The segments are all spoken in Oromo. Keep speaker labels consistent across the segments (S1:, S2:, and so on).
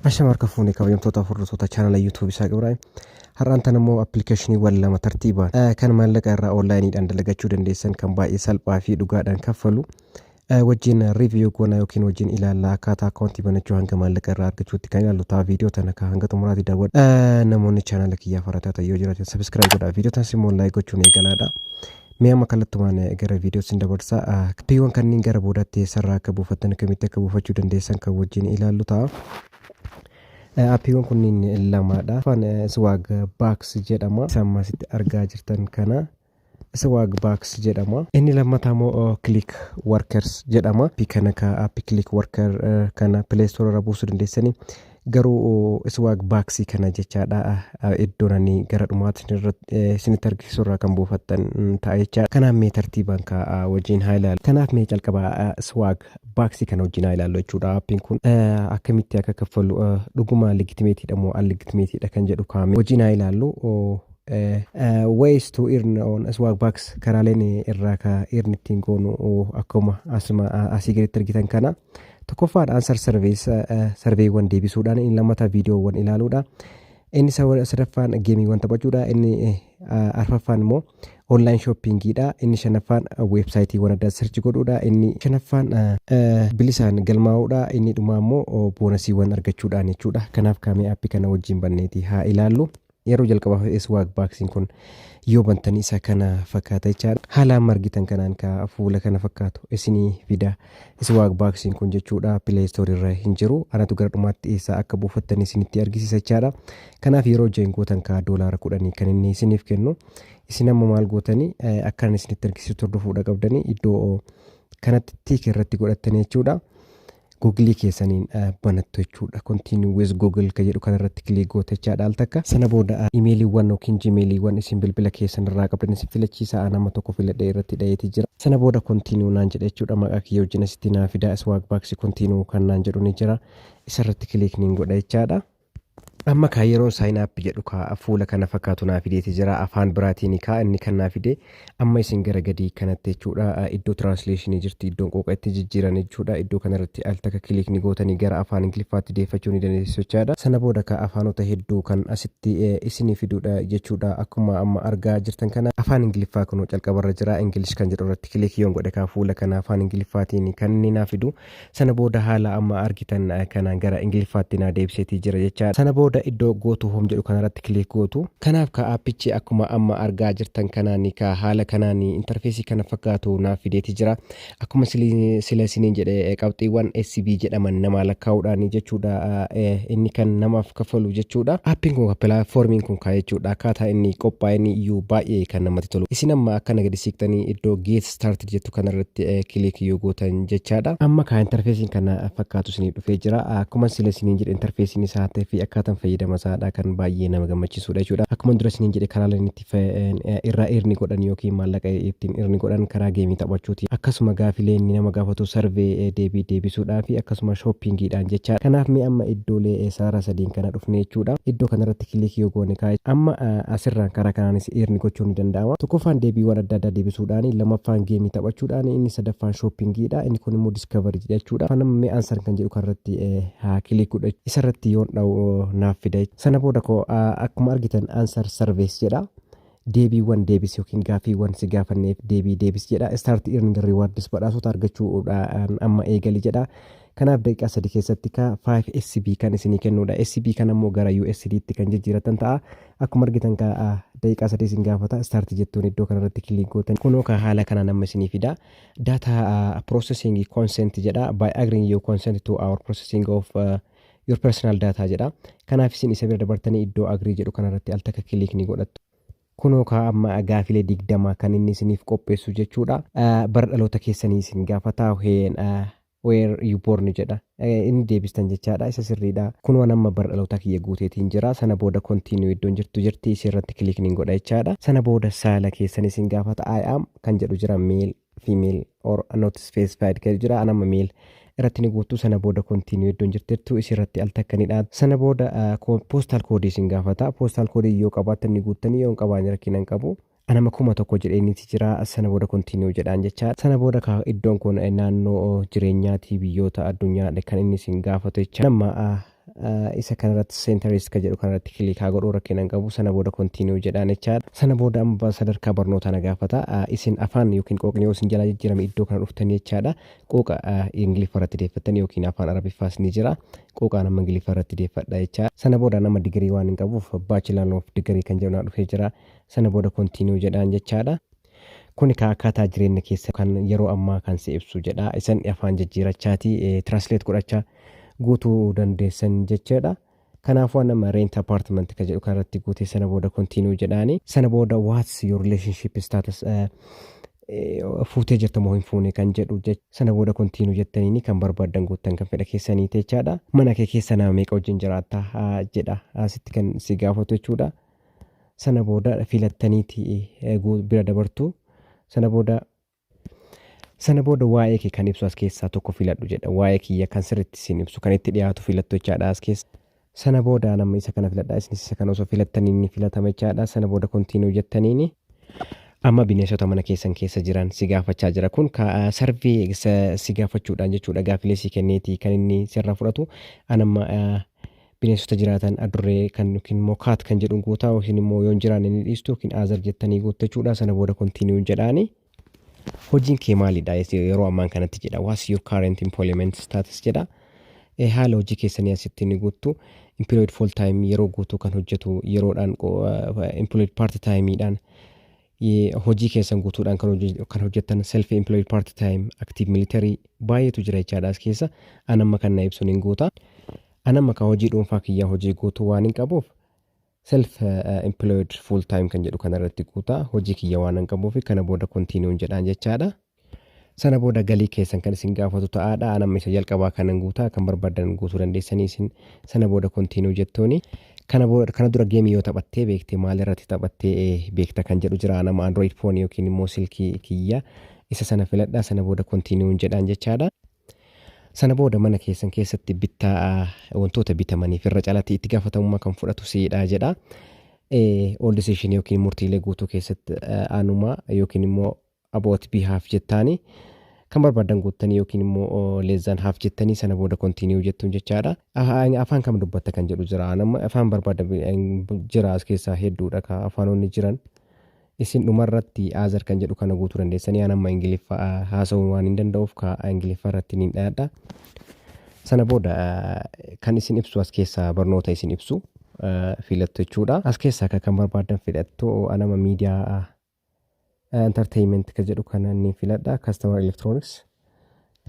S1: Ashama harka fuune kabajamtoota hordoftoota chaanala YouTube Isaaq Ibraahim. Har'aan tan immoo appilikeeshiniiwwan lama tartiibaan eh, kan maallaqa irraa onlaayiniidhaan dalagachuu dandeessan kan baay'ee salphaa fi dhugaadhaan kaffalu eh, wajjin riiviyuu goona yookiin wajjin ilaalla akkaataa akkaawuntii banachuu hanga maallaqa irraa argachuutti kan ilaallu ta'a viidiyoo tana ka hanga xumuraatti daawwadha. Eh, Namoonni chaanala kiyyaaf harataa ta'e yoo jiraatan sabiskiraayib godhaa viidiyoo tanas immoo laayik gochuun eegalaadha. Mee amma kallattumaan eh, gara viidiyoo sin dabarsa. Ah, Appiiwwan kanneen gara boodaatti eessarraa akka buufattan akkamitti akka buufachuu dandeessan kan wajjin ilaallu ta'a. Eh, Appiiwwan kunniin lamadha. Afaan eh, Swag Box jedhama. Isa amma asitti argaa jirtan kana Swag Box jedhama. Inni lammataa immoo oh, Click Workers jedhama. Appii kana ka appii Click Worker eh, kana Play Store irraa buusuu dandeessanii. Garuu Swag Bags kana jechaadha iddoon ani gara dhumaatti isinitti argisiisu irraa kan buufattan ta'a jechaadha. Kanaaf mee tartiibaan kaa wajjin haa ilaallu. Kanaaf mee calqaba Swag Bags kana wajjin haa ilaallu jechuudha appiin kun. Akkamitti akka kaffallu dhuguma legitimate dha moo unlegitimate dha kan jedhu kaa mee wajjin haa ilaallu. Ways to earn on Swag Bags karaaleen irraa kaa earn ittiin goonu akkuma asii gaditti argitan kana. Tokkoffaan answer surveys sarveewwan deebisuudhaan inni lammataa viidiyoowwan ilaaluudha. Inni sadaffaan geemiiwwan taphachuudha. Inni arfaffaan immoo online shoppingiidha. Inni shanaffaan weebsaayitiiwwan addaa sirchi godhuudha. Inni shanaffaan bilisaan galmaa'uudha. Inni dhumaa immoo boonasiiwwan argachuudhaan jechuudha. Kanaaf kaamee aappii kana wajjin banneeti haa ilaallu. Yeroo jalqabaaf swag boxing kun yoo bantan isa kana fakkaata jechaan haala amma argitan kanaan ka fuula kana fakkaatu isinii fida swag boxing kun jechuudha play store irra hin jiru anatu gara dhumaatti eessaa akka buufattan isinitti argisiisa jechaadha kanaaf yeroo join gootan ka doolaara kudhanii kan inni isiniif kennu isin amma maal gootanii akkaan isinitti argisiisu turdufuudha qabdanii iddoo kanatti tiik irratti godhattanii jechuudha Google keessaniin banattu jechuudha. Continue with Google ka jedhu kanarratti click goote jechaadha al takka. Sana booda imeeliiwwan yookiin jimeeliiwwan isin bilbila keessan irraa qabdan isin filachiisa aan amma tokko filadhee irratti dhayeeti jira. Sana booda continue naan jedha jechuudha maqaa kiyya wajjin asitti naa fida swagbucks continue kan naan jedhu ni jira isarratti click niin godha jechaadha. Amma kaa yeroon sign up jedhu kaa fuula kana fakkaatu naa fideeti jira afaan biraatiini kaa inni kan naa fide amma isin gara gadii kanatti jechuudha iddoo translation jirti iddoon qooqa itti jijjiiran jechuudha iddoo kanarratti al takka click ni gootanii gara afaan ingiliffaatti deeffachuu ni dandeessu jechaadha sana booda kaa afaanota hedduu kan asitti isinii fiduudha jechuudha akkuma amma argaa jirtan kana afaan ingiliffaa kunuu calqabarra jira english kan jedhu irratti click yoon godhe kaa fuula kana afaan ingiliffaatiin kan inni naa fidu Sana booda haala amma argitan kanaan gara Ingiliffaatti na deebiseetii jira jechaadha. Sana booda iddoo Go to Home jedhu kanarratti click gootu. Kanaaf kaa aappichi akkuma amma argaa jirtan kanaani kaa haala kanaani interfeesii kana fakkaatu naaf fideeti jira. Akkuma sila isiniin jedhe qabxiiwwan SB jedhaman namaa lakkaa'uudhaani jechuudha inni kan namaaf kaffalu jechuudha. Aappiin kun platformiin kun kaa jechuudha akkaataa inni qophaa'een iyyuu baay'ee kan namatti tolu. Isin amma akka na gadi siiqxanii iddoo Get Started jettu kanarratti click yoo gootan jechaadha. Amma kaa interfeesiin kana fakkaatu isiniif dhufee jira. Akkuma sila isiniin jedhe interfeesiin isaa ta'ee fi akkaataan fayyadama isaadha kan baay'ee nama gammachiisudha jechuudha. Akkuma dura isiniin jedhe karaa lama itti irraa irni godhan yookiin maallaqa ittiin irni godhan karaa geemii taphachuuti. Akkasuma gaafilee inni nama gaafatu sarvee deebii deebisuudhaa fi akkasuma shoppingiidhaan jechaadha. Kanaaf mee amma iddoolee sarara sadiin kana dhufne jechuudha. Iddoo kanarratti irratti click yoo goone kaa amma asirraan karaa kanaanis earn gochuun ni danda'ama tokkoffaan deebiiwwan adda addaa deebisuudhaan lammaffaan geemii taphachuudhaan inni sadaffaan shoppingiidha inni kun immoo discovery jechuudha kan amma mee answer kan jedhu kanarratti haa click godha isarratti yoon dha'u naaf fida sana booda koo akkuma argitan answer service jedha deebiiwwan deebis yookiin gaaffiiwwan si gaafanneef deebii deebis jedha. Start earning rewards badhaasota argachuudhaan amma eegali jedha. Kanaaf daqiiqaa sadii keessatti ka 5 SB kan isinii kennuudha. SB kan ammoo gara USD tti kan jijjiiratan ta'a. Akkuma argitan ka daqiiqaa sadii isin gaafata. Start jettuun iddoo kanarratti kiliik gootan. Kunoo ka haala kanaan amma isinii fida. Data processing consent jedha. By agreeing you consent to our processing of uh, your personal data jedha kanaaf isin isa bira dabartanii iddoo agree jedhu kanarratti al takka kiliik ni godhattu kunoo kaa amma gaafilee digdama kan inni isiniif qopheessu jechuudha bara dhaloota keessanii isin gaafata heen where you born jedha inni deebistan jechaadha isa sirriidha kun waan amma bara dhalootaa kiyya guuteetiin jira sana booda kontiinuu iddoon jirtu jirti isii irratti kiliikniin godha jechaadha sana booda saala keessan isin gaafata i am kan jedhu jira meel female or not specified kan jira an amma male irratti ni guutu sana booda continue iddoon jirtettu isi irratti al takka ni dhaatu sana booda postal code isin gaafata postal code yoo qabaattan ni guuttanii yoo hin qabaanne rakkina hin qabu an amma kuma tokko jedheeniiti jira sana booda continue jedhaan jechaa sana booda ka iddoon kun naannoo jireenyaatii biyyoota addunyaa kan inni isin gaafatu jecha nama isa kanarratti seentariist ka jedhu kanarratti kilikaa godhuu rakkina hin qabu sana booda kontiiniyuu jedhaan jechaadha sana booda amma sadarkaa barnootaa na gaafata isin afaan yookiin qooqni yoo isin jalaa jijjiirame iddoo kana dhuftan jechaadha qooqa ingiliffa irratti deeffattan yookiin afaan arabiffaas ni jira qooqaan amma ingiliffa irratti deeffadha jechaadha sana booda nama digirii waan hin qabuuf baachilaan of digirii kan jedhu naa dhufee jira sana booda kontiiniyuu jedhaan jechaadha Kun ekaa akkaataa jireenna keessa kan yeroo ammaa kan si ibsu jedha. Isan afaan jijjiirachaati translate godhacha guutuu dandeessan jechaadha. Kanaafuu nama rent apartment ka jedhu kanarratti guutee sana booda continue jedhaani. Sana booda what's your relationship status eh, eh, fuutee jirta moo hin fuune kan jedhu jech- sana booda continue jettaniini kan barbaaddan guuttan kan fedha keessanii jechaadha. Mana kee keessa nama meeqa wajjin jiraatta ah, jedha asitti kan si gaafatu jechuudha. sana booda filattaniiti eh, gu- bira dabartu sana booda sana booda waa'ee kee kan ibsu as keessaa tokko filadhu jedha waa'ee kiyya kan sirriitti siin ibsu kan itti dhiyaatu filattu jechaadha as keessa sana booda nama isa kana filadha isinis isa kana osoo filattanii ni filatama jechaadha sana booda kontiinuu jettaniini amma bineensota mana keessan keessa jiran si gaafachaa jira kun ka- sarvee sa- si gaafachuudhaan jechuudha gaafilee si kenneeti kan inni sirraa fudhatu anamma bineensota jiraatan adurree kan yookiin immoo kaat kan jedhuun guutaa yookiin immoo yoon jiraanne ni dhiistu yookiin aazar jettanii guuttu jechuudha sana booda kontiiniyuun jedhaani. Hojiin kee maalidha yeroo ammaan kanatti jedha what's your current employment status jedha Eh, haala hojii keessanii asitti ni guuttu employed full time yeroo guutuu kan hojjetu yeroodhaan qo- eh, employed part time dhaan Ye- hojii keessan guutuudhaan kan hojje- kan hojjettan self employed part time active military baay'eetu jira jechaadha as keessa an amma kan na ibsuun hin guuta An amma kan hojii dhuunfaa kiyyaa hojii guutuu waanin qabuuf self employed full time kan jedhu kana irratti guuta hojii kiyya waanan qabuuf kana booda kontiiniyuun jedhaan jechaadha. Sana booda galii keessan kan isin gaafatu ta'aadha. An amma isa jalqabaa kanan guutaa kan barbaadan guutuu dandeessanii isin sana booda kontiiniyuu jettooni. Kana booda kana dura geemii yoo taphattee beekte maal irratti taphattee eh, beekta kan jedhu jira. An amma Android phone yookiin immoo silkii kiyya isa sana filadha sana booda kontiiniyuun jedhaan jechaadha. Sana booda mana keessan keessatti bittaa wantoota bitamaniif irra calatti itti gaafatamummaa kan fudhatu siidha jedha. All decision yookiin murtiilee guutuu keessatti aanuma yookiin immoo about behalf jettaanii kan barbaadan guuttanii yookiin immoo leezzaan haaf jettanii sana booda kontiiniyuu jettuun jechaadha. Afaan kam dubbatta kan jedhu jira. Nama afaan barbaada jira as keessaa hedduudha ka afaanonni jiran. Isin dhumarratti Aazar kan jedhu kana guutuu dandeessanii aan amma Ingiliffa haasa'uun waan hin danda'uuf ka Ingiliffa irratti niin dhayadha. Sana booda kan isin ibsu as keessaa barnoota isin ibsu filattu jechuudha. As keessaa ka kan barbaaddan filattu aan amma miidiyaa entertainment ka jedhu kana niin filadha. Customer Electronics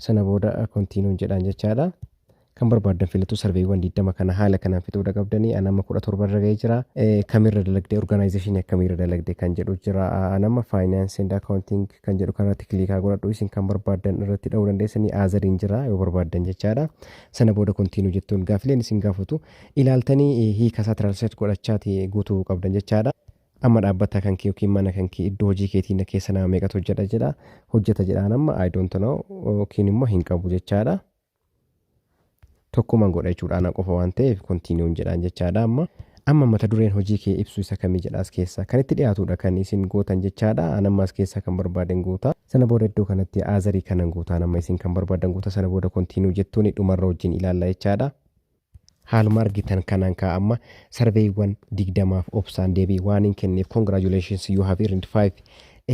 S1: Sana booda continue jedhaan jechaadha. Kan barbaaddan filatu sarveewwan 20 kana haala kanaan fixuudha qabdanii an amma 17 irra ga'ee jira. Eh, Kamirra dalagde organization akkamiirra dalagde kan jedhu jira. Ah, An amma finance and accounting kan jedhu kanarratti kiliikaa godhadhu isin kan barbaaddan irratti dha'uu dandeessanii aazariin jira yoo barbaaddan jechaadha. Sana booda continue jettuun gaafileen isin gaafatu ilaaltanii eh, hiika isaa translate godhachaati guutuu qabdan jechaadha. Amma dhaabbata kan kee yookiin mana kan kee iddoo hojii keetii na keessa nama meeqatu hojjeta jedha hojjeta jedhaan amma I don't know yookiin immoo hin qabu jechaadha. Tokkuman godha jechuudha ana qofa waan ta'eef kontiiniyuun jedhaan jechaadha amma. Amma mata dureen hojii kee ibsu isa kamii jedha as keessa kan itti dhiyaatudha kan isin gootan jechaadha an amma as keessaa kan barbaaden guuta. Sana booda iddoo kanatti aazarii kanan guutaan amma isin kan barbaadan guuta sana booda kontiiniyuu jettuun dhumarra wajjin ilaalla jechaadha. Haaluma argitan kanaan kaa amma sarveeyiwwan 20f obsaan deebii waanin kenneef congratulations you have earned 5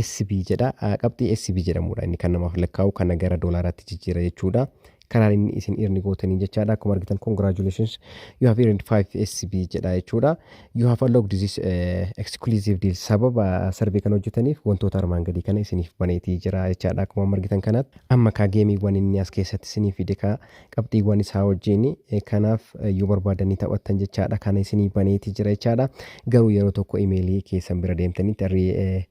S1: SB jedha qabxii SB jedhamuudha inni kan namaaf lakkaa'u kana gara doolaaraatti jijjiira jechuudha karaan inni isin earn gootaniin jechaadha akkuma argitan congratulations you have earned 5 SB jedha jechuudha you have unlocked this eh, exclusive deal sababa sarvee kana hojjetaniif wantoota armaan gadii kana isiniif baneetii jira jechaadha akkuma amma argitan kanaatti amma kaa geemiiwwan inni as keessatti isiniif fide kaa qabxiiwwan isaa wajjin kanaaf yoo barbaadan ni taphattan jechaadha kana isinii baneeti jira jechaadha garuu yeroo tokko imeelii keessan bira deemtanitti arrii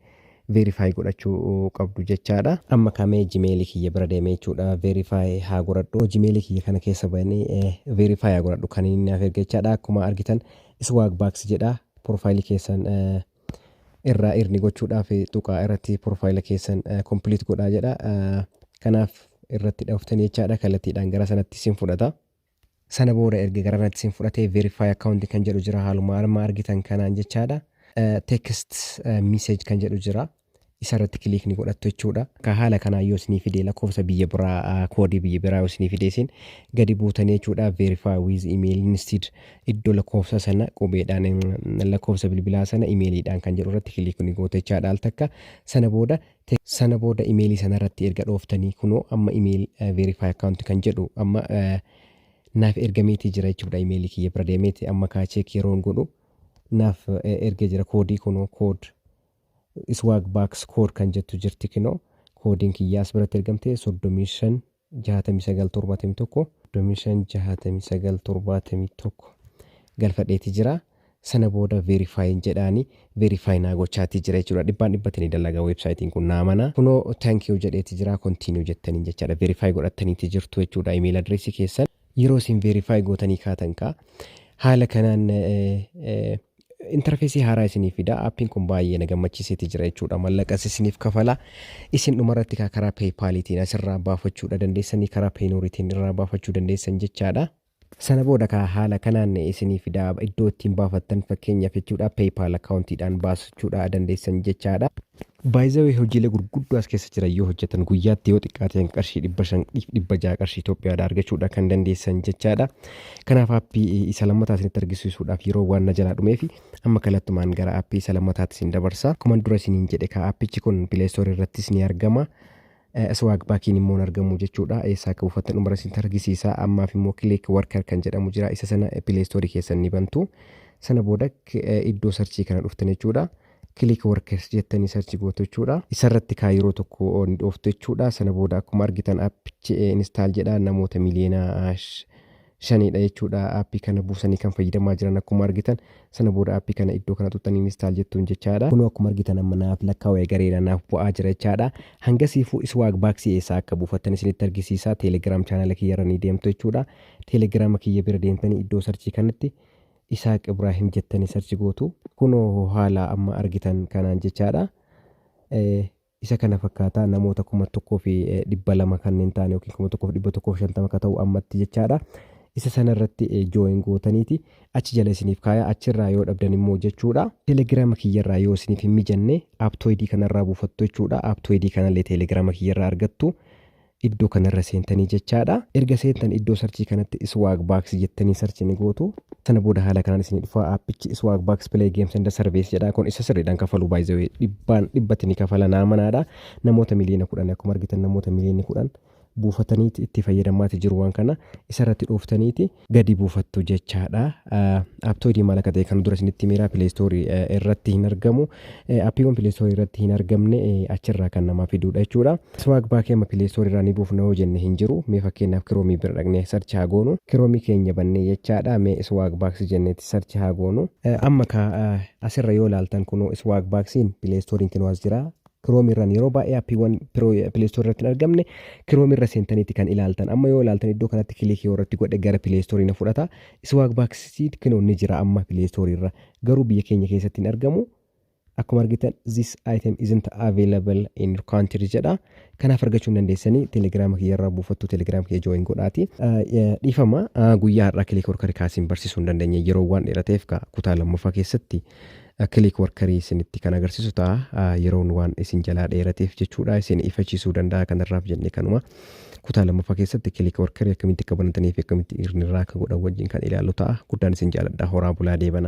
S1: veerifaayi godhachuu qabdu jechaadha amma kamee jimeelii kiyya bira deemee jechuudha veerifaayi haa godhadhu jimeelii kiyya kana keessa ba'anii veerifaayi haa godhadhu kan inni naaf erga jechaadha akkuma argitan iswaag baaksi jedha profaayilii keessan irraa earn gochuudhaaf tuqaa irratti profile keessan eh, complete godhaa jedha. Eh, Kanaaf irratti dhooftanii jechaadha kallattiidhaan gara sanatti isin fudhata. Sana booda erga gara sanatti isin fudhatee verify account kan jedhu jira haaluma arma argitan kanaan jechaadha. Eh, Text eh, message kan jedhu jira. isa irratti click ni godhattu jechuudha. Ka haala kanaan yoo isinii fidee lakkoofsa biyya biraa ah, koodii biyya biraa yoo isinii fidee isin gadi buutanii jechuudha verify with email instead iddoo lakkoofsa sana qubeedhaan em, lakkoofsa bilbilaa sana imeeliidhaan kan jedhu irratti click ni gootu jechaadha al takka sana booda te- sana booda imeelii sana irratti erga dhooftanii kunoo amma email eh, verify account kan jedhu amma eh, naaf ergameetii jira jechuudha imeelii kiyya bira deemeeti amma kaa cheek yeroon godhu naaf eh, erga jira koodii kunoo kood Swagbucks code kan jettu jirti kinoo koodiin kiyyaa as biratti ergamte 35 69 71 35 69 71 galfadheeti jira sana booda verify jedhaani verify naa gochaati jira jechuudha dhibbaan dhibbatti ni dalaga websaayitiin kun naa mana kunoo thank you jedheeti jira continue jettaniin jechaadha verify godhattaniiti jirtu jechuudha email address keessan yeroo isin verify gootanii kaatan kaa haala kanaan interfeesii haaraa isiniif fida appiin kun baay'ee na gammachiiseeti jira jechuudha mallaqas isiniif kafala isin dhumarratti kaa karaa peepaaliitiin asirraa baafachuudha dandeessanii karaa peenuuritiin irraa baafachuu dandeessan jechaadha. Sana booda kaa haala kanaan isiniif fida iddoo ittiin baafattan fakkeenyaaf jechuudha peepaal akkaawuntiidhaan baasachuudha dandeessan jechaadha. By the way hojiilee gurguddoo as keessa jiran yoo hojjatan guyyaatti yoo xiqqaate hanga qarshii 500 dhiif 600 qarshii Itoophiyaadha argachuudha kan dandeessan jechaadha. Kanaaf aappii isa lammataa isinitti argisiisuudhaaf yeroo waan na jalaa dhumeefi amma kallattumaan gara aappii isa lammataatti isin dabarsa. Akkuma dura isiniin jedhe kaa aappichi kun Play Store irrattis ni argama. Swag Backiin immoo hin argamu jechuudha. Eessaa akka buufattan dhumara isinitti argisiisa. Ammaaf immoo Click Worker kan jedhamu jira. Isa sana Play Store keessan ni bantu. Sana booda iddoo sarchii kana dhuftan jechuudha. Click Workers jettanii sarchi gootu jechuudha. Isarratti kaa yeroo tokko ni dhooftu jechuudha. Sana booda akkuma argitan appichi install jedha namoota miliyoona shaniidha jechuudha aappii kana buusanii kan fayyadamaa jiran akkuma argitan sana booda aappii kana iddoo kana tuttanii instaal jettuun jechaadha kunoo akkuma argitan amma naaf lakkaawee gareera naaf bu'aa jira jechaadha hangasiifuu iswaag baaksii eessaa akka buufattan isinitti argisiisa teelegiraam chaanala kiyyarra ni deemtu jechuudha teelegiraama kiyya bira deemtanii iddoo sarchii kanatti isaaq ibraahim jettanii sarchi gootu kunoo haala amma argitan kanaan jechaadha isa kana fakkaata namoota kuma tokkoo fi eh, dhibba lama kanneen ta'an yookiin kuma tokkoo fi dhibba tokkoo fi shantama akka ta'u ammatti jechaadha. Isa sana irratti eh, join gootaniiti achi jala isiniif kaaya achirraa yoo dhabdan immoo jechuudha. Telegiraama kiyyarraa yoo isiniif hin mijanne aptooyidii kanarraa buufattu jechuudha. Aptooyidii kanallee telegiraama kiyyarraa argattu. Iddoo kanarra seentanii jechaadha. Erga seentan iddoo sarchii kanatti Swag Box jettanii sarchii ni gootu. Sana booda haala kanaan isinii dhufa. Aappichi Swag Box Play Games and Service jedha. Kun isa sirriidhaan kafaluu by the way dhibbaan dhibbatti ni kafala naa manaadha. Namoota miliyoona kudhan akkuma argitan namoota miliyoonni kudhan buufataniiti itti fayyadamaati jiru waan kana. Isarratti dhooftaniiti gadi buufattu jechaadha. Apptoodii maal akka ta'e kan dura isinitti himeera Play Store irratti hin argamu. Appiiwwan Play Store irratti hin argamne achirraa kan namaa fiduudha jechuudha. Swag baakii amma Play Store irraa ni buufna yoo jenne hin jiru. Mee fakkeenyaaf kiroomii bira dhaqnee search haa goonu. Kiroomii keenya bannee jechaadha. Mee swag baaks jenneeti search haa goonu. Amma ka asirra yoo ilaaltan kunoo swag baaksiin Play Store'n kunoo as jira. Chrome irraan yeroo baay'ee appiiwwan Play Store irratti hin argamne Chrome irra seentaniiti kan ilaaltan. Amma yoo ilaaltan iddoo kanatti kilikii irratti godhe gara Play Store na fudhata. Swag Bucks Seed kinoo ni jira amma Play Store irra. Garuu biyya keenya keessatti hin argamu. Akkuma argitan this item isn't available in your country jedha. Kanaaf argachuu hin dandeessanii telegiraama kiyya irraa buufattu telegiraama kiyya join godhaati. Dhiifama guyyaa har'aa kilikii warra kaasiin barsiisuu hin dandeenye yeroo waan dheerateef kutaa lammaffaa keessatti click worker isinitti kan agarsiisu ta'a yeroon waan isin jalaa dheerateef jechuudha isin ifachiisuu danda'a kanarraaf jennee kanuma kutaa lammaffaa keessatti click worker akkamitti akka banatanii fi akkamitti irraa akka godhan wajjin kan ilaallu ta'a guddaan isin jaaladha horaa bulaa deebana.